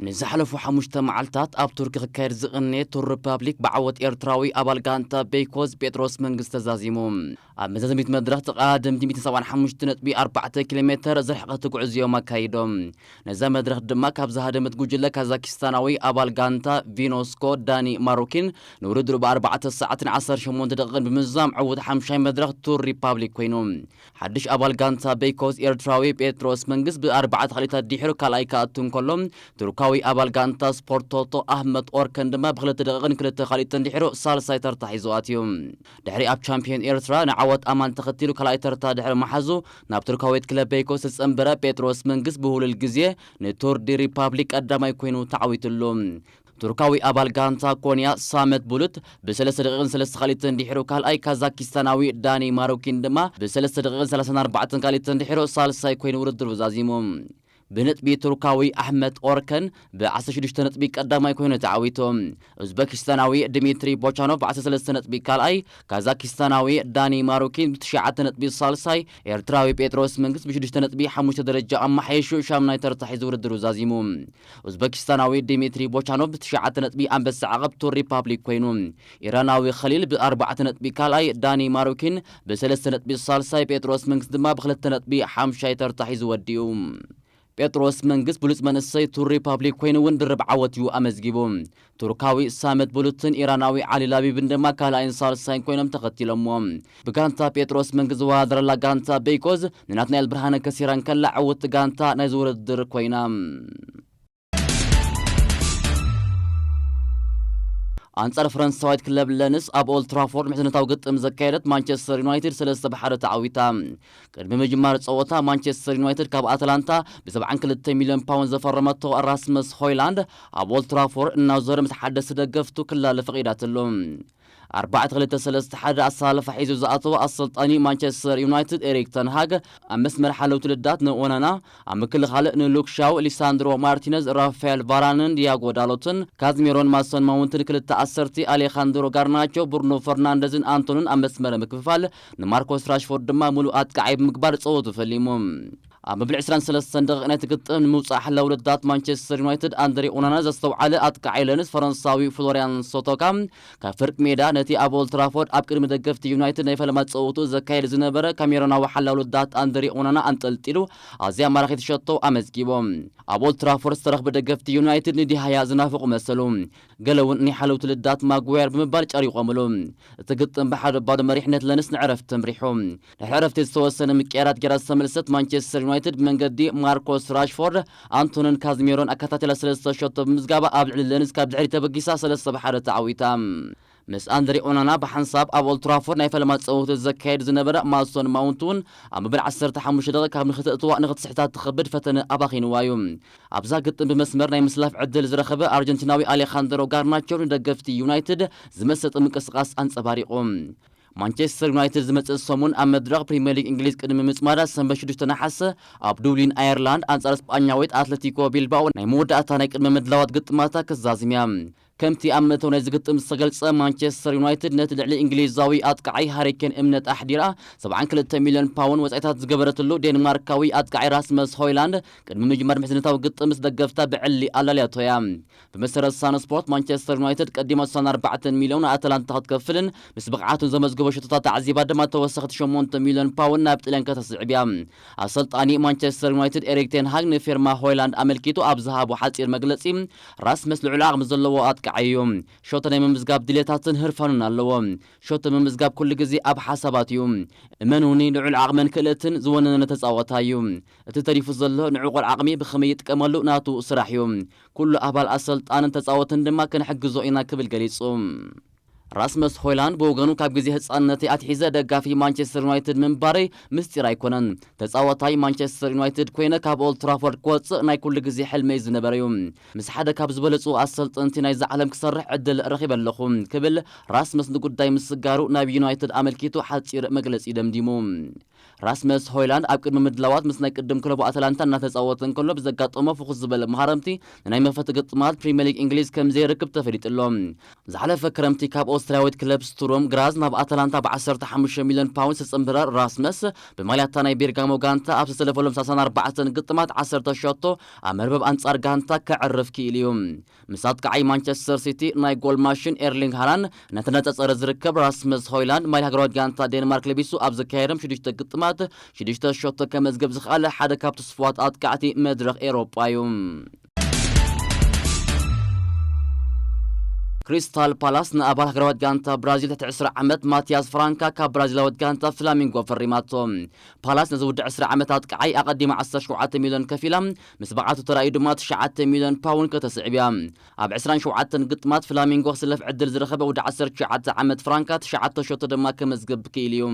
ንዝሓለፉ ሓሙሽተ መዓልታት ኣብ ቱርኪ ክካየድ ዝቐነየ ቱር ሪፓብሊክ ብዓወት ኤርትራዊ ኣባል ጋንታ ቤይኮዝ ጴጥሮስ መንግስ ተዛዚሙ። ኣብ መዛዘሚት መድረኽ ተቐዳደምቲ ሚእትን ሰብዓን ሓሙሽተ ነጥቢ ኣርባዕተ ኪሎሜተር ዝርሕቐት ጉዕዝኦም ኣካይዶም። ነዛ መድረኽ ድማ ካብ ዝሃደመት ጉጅለ ካዛኪስታናዊ ኣባል ጋንታ ቪኖስኮ ዳኒ ማሩኪን ንውድድሩ ብኣርባዕተ ሰዓትን ዓሰርተ ሸሞንተ ደቒቕን ብምዝዛም ዕውት ሓምሻይ መድረኽ ቱር ሪፓብሊክ ኮይኑ። ሓድሽ ኣባል ጋንታ ቤይኮስ ኤርትራዊ ጴጥሮስ መንግስ ብ ኣርባዕተ ክሊታት ዲሒሩ ካልኣይ ክኣቱ እንከሎ ቱርካዊ ኣባል ጋንታ ስፖርት ቶቶ ኣህመት ኦርከን ድማ ብ ክልተ ደቂቕን ክልተ ካሊትን ዲሒሩ ሳልሳይ ተርታ ሒዙ ኣትዩ። ድሕሪ ኣብ ቻምፕዮን ኤርትራ ንዓወት ኣማን ተኸቲሉ ካልኣይ ተርታ ድሕሪ ምሓዙ ናብ ቱርካዊት ክለብ ቤይኮስ ዝጸንበረ ጴጥሮስ መንግስ ብውህሉል ግዜ ን ቱር ዲ ሪፓብሊክ ቀዳማይ ኮይኑ ተዓዊቱሉ። ቱርካዊ ኣባል ጋንታ ኮንያ ሳመት ቡሉት ብሰለስተ ደቂቕን ሰለስተ ካልኢትን ድሒሩ ካልኣይ፣ ካዛኪስታናዊ ዳኒ ማሩኪን ድማ ብሰለስተ ደቂቕን ሰላሳን ኣርባዕተን ካልኢትን ድሒሩ ሳልሳይ ኮይኑ ውድድሩ ዛዚሙ። ብነጥቢ ቱርካዊ ኣሕመት ኦርከን ብ ዓሰርተ ሽዱሽተ ነጥቢ ቀዳማይ ኮይኑ ተዓዊቱ። ኡዝበኪስታናዊ ድሚትሪ ቦቻኖቭ ብ ዓሰርተ ሰለስተ ነጥቢ ካልኣይ፣ ካዛኪስታናዊ ዳኒ ማሩኪን ብ ትሽዓተ ነጥቢ ሳልሳይ፣ ኤርትራዊ ጴጥሮስ መንግስ ብ ሽዱሽተ ነጥቢ ሓሙሽተ ደረጃ ኣመሓይሹ ሻምናይ ተርታ ሒዙ ውድድሩ ዛዚሙ። ኡዝበኪስታናዊ ዲሚትሪ ቦቻኖቭ ብትሽዓተ ነጥቢ ኣንበሳ ዓቐብቱ ሪፓብሊክ ኰይኑ፣ ኢራናዊ ኸሊል ብኣርባዕተ ነጥቢ ካልኣይ፣ ዳኒ ማሩኪን ብሰለስተ ነጥቢ ሳልሳይ፣ ጴጥሮስ መንግስ ድማ ብኽልተ ነጥቢ ሓምሻይ ተርታ ሒዙ ወዲኡ። ጴጥሮስ መንግስ ብሉጽ መንእሰይ ቱር ሪፓብሊክ ኰይኑ'ውን ድርብ ዓወት'ዩ ኣመዝጊቡ። ቱርካዊ ሳመት ቡሉትን ኢራናዊ ዓሊ ላቢብን ድማ ካልኣይን ሳልሳይን ኮይኖም ተኸቲሎምዎ። ብጋንታ ጴጥሮስ መንጊ ዝወዳደረላ ጋንታ በይቆዝ ንናትናኤል ብርሃነ ከሲራ እንከላ ዕውትቲ ጋንታ ናይዚ ውድድር ኮይና። ኣንጻር ፈረንሳዊት ክለብ ለንስ ኣብ ኦልትራፎርድ ምሕዝነታዊ ግጥም ዘካየደት ማንቸስተር ዩናይትድ ሰለስተ ብ ሓደ ተዓዊታ። ቅድሚ ምጅማር ጸወታ ማንቸስተር ዩናይትድ ካብ ኣትላንታ ብሰብዓን ክልተ ሚልዮን ፓውንድ ዘፈረመቶ ራስመስ ሆይላንድ ኣብ ኦልትራፎር እናዞረ ምስ ሓደስቲ ደገፍቱ ክላለ ፈቒዳትሉ። ኣርባዕተ ክልተ ሰለስተ ሓደ ኣሰላልፋ ሒዙ ዝኣተወ ኣሰልጣኒ ማንቸስተር ዩናይትድ ኤሪክ ተንሃግ ኣብ መስመር ሓለውቲ ልዳት ንኦናና፣ ኣብ ምክልኻል ንሉክ ሻው፣ ሊሳንድሮ ማርቲነዝ፣ ራፋኤል ቫራንን ዲያጎ ዳሎትን፣ ካዝሚሮን ማሶን ማውንትን ክልተ ዓሰርቲ፣ ኣሌኻንድሮ ጋርናቾ፣ ብሩኖ ፈርናንደዝን ኣንቶንን ኣብ መስመረ ምክፍፋል፣ ንማርኮስ ራሽፎርድ ድማ ምሉእ ኣጥቃዓይ ብምግባር ጸወቱ ፈሊሙ። ኣብ መበል ዕስራን ሰለስተን ደቒቕ ናይቲ ግጥም ንምውጻእ ሓላዊ ረዳት ማንቸስተር ዩናይትድ ኣንድሬ ኦናና ዘስተውዓለ ኣጥቃዓይ ለንስ ፈረንሳዊ ፍሎርያን ሶቶካ ካብ ፍርቂ ሜዳ ነቲ ኣብ ኦልትራፎርድ ኣብ ቅድሚ ደገፍቲ ዩናይትድ ናይ ፈለማ ጸወትኡ ዘካይድ ዝነበረ ካሜሮናዊ ሓላዊ ረዳት ኣንድሬ ኦናና ኣንጠልጢሉ ኣዝያ ማራኺት ሸቶ ኣመዝጊቡ። ኣብ ኦልትራፎርድ ዝተረኽቡ ደገፍቲ ዩናይትድ ንዲሃያ ዝናፍቑ መሰሉ። ገለ እውን ናይ ሓለውቲ ልዳት ማግዋየር ብምባል ጨሪቖምሉ። እቲ ግጥም ብሓደ ባዶ መሪሕነት ለንስ ንዕረፍቲ ተምሪሑ። ድሕሪ ዕረፍቲ ዝተወሰነ ምቅያራት ገይራ ዝተመልሰት ማንቸስተር ዩናይትድ ብመንገዲ ማርኮስ ራሽፎርድ፣ ኣንቶንን ካዝሚሮን ኣከታቲላ ሰለስተ ሸቶ ብምምዝጋባ ኣብ ልዕሊ ለንስ ካብ ድሕሪት ተበጊሳ ሰለስተ ብ ሓደ ተዓዊታ። ምስ ኣንድሬ ኦናና ብሓንሳብ ኣብ ኦልትራፎርድ ናይ ፈለማ ጸወቱ ዘካይድ ዝነበረ ማሶን ማውንት እውን ኣብ መበል ዓሰርተ ሓሙሽተ ደቒቕ ካብ ንኽተእትዋ ንኽትስሕታ ትኸብድ ፈተነ ኣባኺንዋ እዩ። ኣብዛ ግጥም ብመስመር ናይ ምስላፍ ዕድል ዝረኸበ ኣርጀንቲናዊ ኣሌኻንድሮ ጋርናቾ ንደገፍቲ ዩናይትድ ዝመሰጥ ምንቅስቓስ ኣንጸባሪቑ። ማንቸስተር ዩናይትድ ዝመጽእ ሰሙን ኣብ መድረኽ ፕሪምየር ሊግ እንግሊዝ ቅድሚ ምጽማዳ ሰንበት ሽዱሽተ ነሓሰ ኣብ ዱብሊን ኣየርላንድ ኣንጻር ስጳኛዊት ኣትለቲኮ ቢልባኦ ናይ መወዳእታ ናይ ቅድመ ምድላዋት ግጥማታ ክትዛዝም እያ። ከምቲ ኣብ መእተዊ ናይዚ ግጥም ዝተገልጸ፣ ማንቸስተር ዩናይትድ ነቲ ልዕሊ እንግሊዛዊ ኣጥቃዓይ ሃሪ ኬን እምነት ኣሕዲራ ሰብዓን ክልተ ሚልዮን ፓውን ወጻኢታት ዝገበረትሉ ዴንማርካዊ ኣጥቃዓይ ራስመስ ሆይላንድ ቅድሚ ምጅማር ምሕዝነታዊ ግጥም ምስ ደገፍታ ብዕሊ ኣላልያቶ እያ። ብመሰረት ሳን ስፖርት፣ ማንቸስተር ዩናይትድ ቀዲማ ስሳን ኣርባዕተን ሚልዮን ንኣታላንታ ክትከፍልን ምስ ብቕዓቱን ዘመዝገቦ ሸቶታት ኣዕዚባ ድማ ተወሰኽቲ ሸሞንተ ሚልዮን ፓውን ናብ ጥልያን ከተስዕብ እያ። ኣሰልጣኒ ማንቸስተር ዩናይትድ ኤሪክ ቴን ሃግ ንፊርማ ሆይላንድ ኣመልኪቱ ኣብ ዝሃቦ ሓጺር መግለጺ፣ ራስመስ ልዑል ዓቕሚ ዘለዎ ኣጥቃዓይ እዩ። ሾተ ናይ ምምዝጋብ ድሌታትን ህርፋኑን ኣለዎ። ሾተ ምምዝጋብ ኩሉ ግዜ ኣብ ሓሳባት እዩ። እመኑኒ ልዑል ዓቕምን ክእለትን ዝወነነ ተጻዋታይ እዩ። እቲ ተሪፉ ዘሎ ንዕቑር ዓቕሚ ብኸመይ ይጥቀመሉ ናቱ ስራሕ እዩ። ኩሉ ኣባል ኣሰልጣንን ተጻወትን ድማ ክንሕግዞ ኢና ክብል ገሊጹ። ራስመስ ሆይላንድ ብወገኑ ካብ ግዜ ህጻንነተይ ኣትሒዘ ደጋፊ ማንቸስተር ዩናይትድ ምንባረይ ምስጢር ኣይኮነን። ተጻዋታይ ማንቸስተር ዩናይትድ ኮይነ ካብ ኦልድ ትራፎርድ ክወጽእ ናይ ኩሉ ግዜ ሕልመይ ዝነበረ'ዩ። ምስ ሓደ ካብ ዝበለጹ ኣሰልጠንቲ ናይዛ ዓለም ክሰርሕ ዕድል ረኺበ ኣለኹ ክብል ራስመስ ንጉዳይ ምስጋሩ ናብ ዩናይትድ ኣመልኪቱ ሓጺር መግለጺ ደምዲሙ። ራስመስ ሆይላንድ ኣብ ቅድሚ ምድላዋት ምስ ናይ ቅድም ክለቡ ኣታላንታ እናተጻወተ እንከሎ ብዘጋጠሞ ፍኹስ ዝበለ መሃረምቲ ንናይ መኽፈቲ ግጥማት ፕሪምየር ሊግ እንግሊዝ ከምዘይርክብ ተፈሊጡ ኣሎ። ዝሓለፈ ክረምቲ ካብ ኦስትርያዊት ክለብ ስቱሩም ግራዝ ናብ ኣታላንታ ብ ዓሰርተ ሓሙሽተ ሚልዮን ፓውንድ ዝተጸንበረ ራስመስ፣ ብማልያ'ታ ናይ ቤርጋሞ ጋንታ ኣብ ዝተሰለፈሎም ሳሳን ኣርባዕተን ግጥማት ዓሰርተ ሸቶ ኣብ መርበብ ኣንጻር ጋንታ ከዕርፍ ክኢሉ'ዩ። ምስ ኣጥቃዓይ ማንቸስተር ሲቲ ናይ ጎል ማሽን ኤርሊንግ ሃላን ነቲ ነጸጸረ ዝርከብ ራስመስ ሆይላንድ ማይ ሃገራዊት ጋንታ ዴንማርክ ለቢሱ ኣብ ዘካየዶም ሽዱሽተ ግጥማት ሽዱሽተ ሸቶ ከመዝገብ ዝኸኣለ ሓደ ካብ ትስፉዋት ኣጥቃዕቲ መድረኽ ኤሮጳ እዩ። ክሪስታል ፓላስ ንኣባል ሃገራዊት ጋንታ ብራዚል ትሕቲ 20 ዓመት ማቲያስ ፍራንካ ካብ ብራዚላዊት ጋንታ ፍላሚንጎ ፈሪማቶ። ፓላስ ነዚ ውዲ 20 ዓመት ኣጥቃዓይ ኣቐዲማ 17 ሚልዮን ከፊላ ምስ ብቕዓቱ ተራእዩ ድማ ትሽዓተ ሚልዮን ፓውን ከተስዕብ እያ። ኣብ ዕስራን ሸውዓተን ግጥማት ፍላሚንጎ ክስለፍ ዕድል ዝረኸበ ወዲ ዓሰርተ ትሽዓተ ዓመት ፍራንካ ትሽዓተ ሸቶ ድማ ከመዝግብ ክኢሉ እዩ።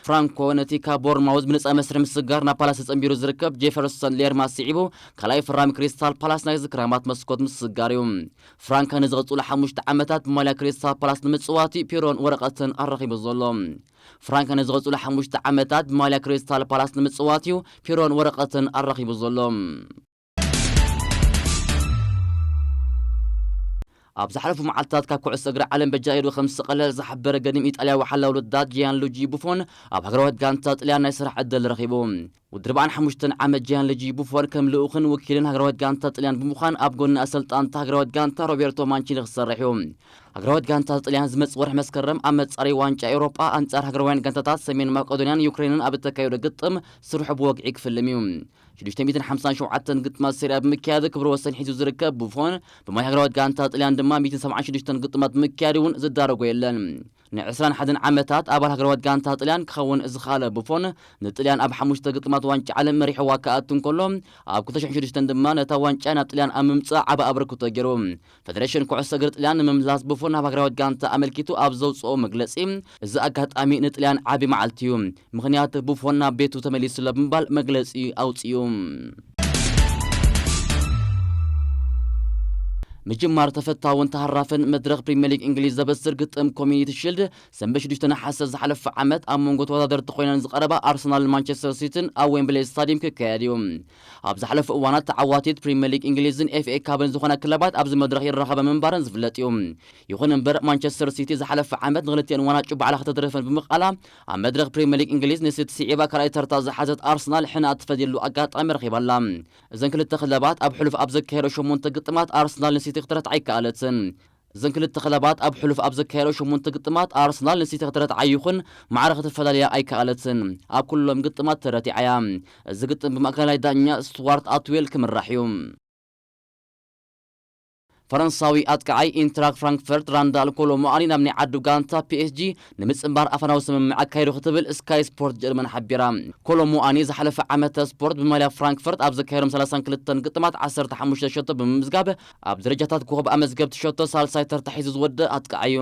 ፍራንኮ ነቲ ካብ ቦርንማውዝ ብነጻ መስርሒ ምስግጋር ናብ ፓላስ ተጸንቢሩ ዝርከብ ጄፈርሶን ሌርማ ስዒቡ ካልኣይ ፈራሚ ክሪስታል ፓላስ ናይዚ ክራማት መስኮት ምስግጋር እዩ። ፍራንካ ንዝቕጽሉ ሓሙሽተ ዓመታት ብማልያ ክሪስታል ፓላስ ንምጽዋት እዩ ፒሮን ወረቐተን ኣረኪቡ ዘሎ። ፍራንክ ንዝቕፅሉ ሓሙሽተ ዓመታት ብማልያ ክሪስታል ፓላስ ንምፅዋት እዩ ፒሮን ወረቐትን ኣራኺቡ ዘሎ። ኣብ ዝሓለፉ መዓልትታት ካብ ኩዕሶ እግሪ ዓለም በጃ ኢዱ ከም ዝተቐለለ ዝሓበረ ገዲም ኢጣልያዊ ሓላዊ ልዳት ጂያን ሉጂ ቡፎን ኣብ ሃገራዊት ጋንታ ጥልያን ናይ ስራሕ ዕድል ረኺቡ ወዲ ኣርብዓን ሓሙሽተን ዓመት ጂያንልጂ ቡፎን ከም ልኡኽን ወኪልን ሃገራዊት ጋንታ ጥልያን ብምዃን ኣብ ጎኒ ኣሰልጣን'ታ ሃገራዊት ጋንታ ሮቤርቶ ማንቺኒ ክሰርሕ እዩ። ሃገራዊት ጋንታ ጥልያን ዝመጽእ ወርሒ መስከረም ኣብ መጻረዪ ዋንጫ ኤውሮጳ ኣንጻር ሃገራውያን ጋንታታት ሰሜን ማቀዶንያን ዩክረይንን ኣብ እተካይዶ ግጥም ስርሑ ብወግዒ ክፍልም እዩ። ሽዱሽተ ሚእትን ሓምሳን ሸውዓተን ግጥማት ሰሪኣ ብምክያድ ክብረ ወሰን ሒዙ ዝርከብ ቡፎን፣ ብማይ ሃገራዊት ጋንታ ጥልያን ድማ ሚእትን ሰብዓን ሽዱሽተን ግጥማት ብምክያድ እውን ዝዳረጎ የለን። ንዕስራን ሓደን ዓመታት ኣባል ሃገራዊት ጋንታ ጥልያን ክኸውን ዝኸኣለ ቡፎን፣ ንጥልያን ኣብ ሓሙሽተ ግጥማት ዋንጫ ዓለም መሪሕዋ ክኣቱ እንከሎ፣ ኣብ ክልተ ሽሕን ሽዱሽተን ድማ ነታ ዋንጫ ናብ ጥልያን ኣብ ምምጻእ ዓቢ ኣበርክቶ ገይሩ። ፈደረሽን ኩዕሶ እግሪ ጥልያን ንምምላስ ቡፎን ናብ ሃገራዊት ጋንታ ኣመልኪቱ ኣብ ዘውጽኦ መግለጺ፣ እዚ ኣጋጣሚ ንጥልያን ዓቢ መዓልቲ'ዩ። ምኽንያት ቡፎን ናብ ቤቱ ተመሊሱ'ሎ ብምባል መግለጺ ኣውጺኡ። ምጅማር ተፈታውን ተሃራፍን መድረኽ ፕሪምየር ሊግ እንግሊዝ ዘበስር ግጥም ኮሚኒቲ ሺልድ ሰንበት 6 ነሓሰ ዝሓለፈ ዓመት ኣብ መንጎ ተወዳደርቲ ኮይነን ዝቐረባ ኣርሰናልን ማንቸስተር ሲቲን ኣብ ዌምብሌ ስታዲየም ክካየድ እዩ ኣብ ዝሓለፉ እዋናት ተዓዋቲት ፕሪምየር ሊግ እንግሊዝን ኤፍኤ ካብን ዝኾና ክለባት ኣብዚ መድረኽ ይራኸበ ምንባረን ዝፍለጥ እዩ ይኹን እምበር ማንቸስተር ሲቲ ዝሓለፈ ዓመት ንክልቲኤን ዋናጩ ባዕላ ከተትርፈን ብምቃላ ኣብ መድረኽ ፕሪመሊግ እንግሊዝ ንሲቲ ስዒባ ካልኣይ ተርታ ዝሓዘት ኣርሰናል ሕነ ኣትፈድየሉ ኣጋጣሚ ረኺባ ኣላ። እዘን ክልተ ክለባት ኣብ ሕሉፍ ኣብ ዘካየደኦ ሸሞንተ ግጥማት ኣርሰናል ንሲቲ ክትረትዓ ኣይከኣለትን። እዘን ክልተ ክለባት ኣብ ሕሉፍ ኣብ ዘካየደኦ ሸሞንተ ግጥማት ኣርሰናል ንሲቲ ክትረትዓ ይኹን ማዕረ ክትፈላልያ ኣይከኣለትን። ኣብ ኩሎም ግጥማት ተረቲዓ እያ። እዚ ግጥም ብማእከላይ ዳኛ ስቱዋርት ኣትዌል ክምራሕ እዩ። ፈረንሳዊ ኣጥቃዓይ ኢንትራክ ፍራንክፈርት ራንዳል ኮሎ ሙኣሊ ናብ ናይ ዓዱ ጋንታ ፒኤስጂ ንምጽንባር ኣፈናዊ ስምምዕ ኣካይዱ ክትብል ስካይ ስፖርት ጀርመን ሓቢራ። ኮሎ ሙኣኒ ዝሓለፈ ዓመተ ስፖርት ብማልያ ፍራንክፈርት ኣብ ዘካየዶም ሰላሳን ክልተን ግጥማት ዓሰርተ ሓሙሽተ ሸቶ ብምምዝጋብ ኣብ ደረጃታት ኮኾብ ኣመዝገብቲ ሸቶ ሳልሳይ ተርታ ሒዙ ዝወደእ ኣጥቃዓይ'ዩ።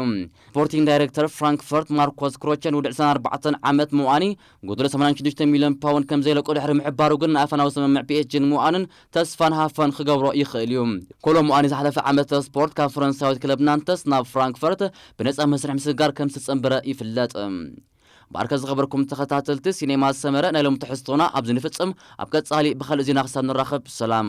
ስፖርቲንግ ዳይረክተር ፍራንክፈርት ማርኮስ ክሮቸ ንውድዕ ዕስራን ኣርባዕተን ዓመት ሙኣኒ ጎደሎ ሰማንያን ሽዱሽተ ሚልዮን ፓውንድ ከምዘይለቆ ድሕሪ ምሕባሩ ግን ንኣፈናዊ ስምምዕ ፒኤስጂን ሙኣንን ተስፋን ሃፈን ክገብሮ ይኽእል እዩ። ኮሎሙኣኒ ዝሓለፈ ዓመተ ስፖርት ካብ ፈረንሳዊት ክለብ ናንተስ ናብ ፍራንክፈርት ብነጻ መስርሕ ምስግጋር ከም ዝተጸንበረ ይፍለጥ። ባርከ ዝኸበርኩም ተኸታተልቲ ሲኔማ ሰመረ ናይ ሎሚ ትሕዝቶና ኣብዚ ንፍጽም ኣብ ቀጻሊ ብኻልእ ዜና ክሳብ ንራኸብ ሰላም።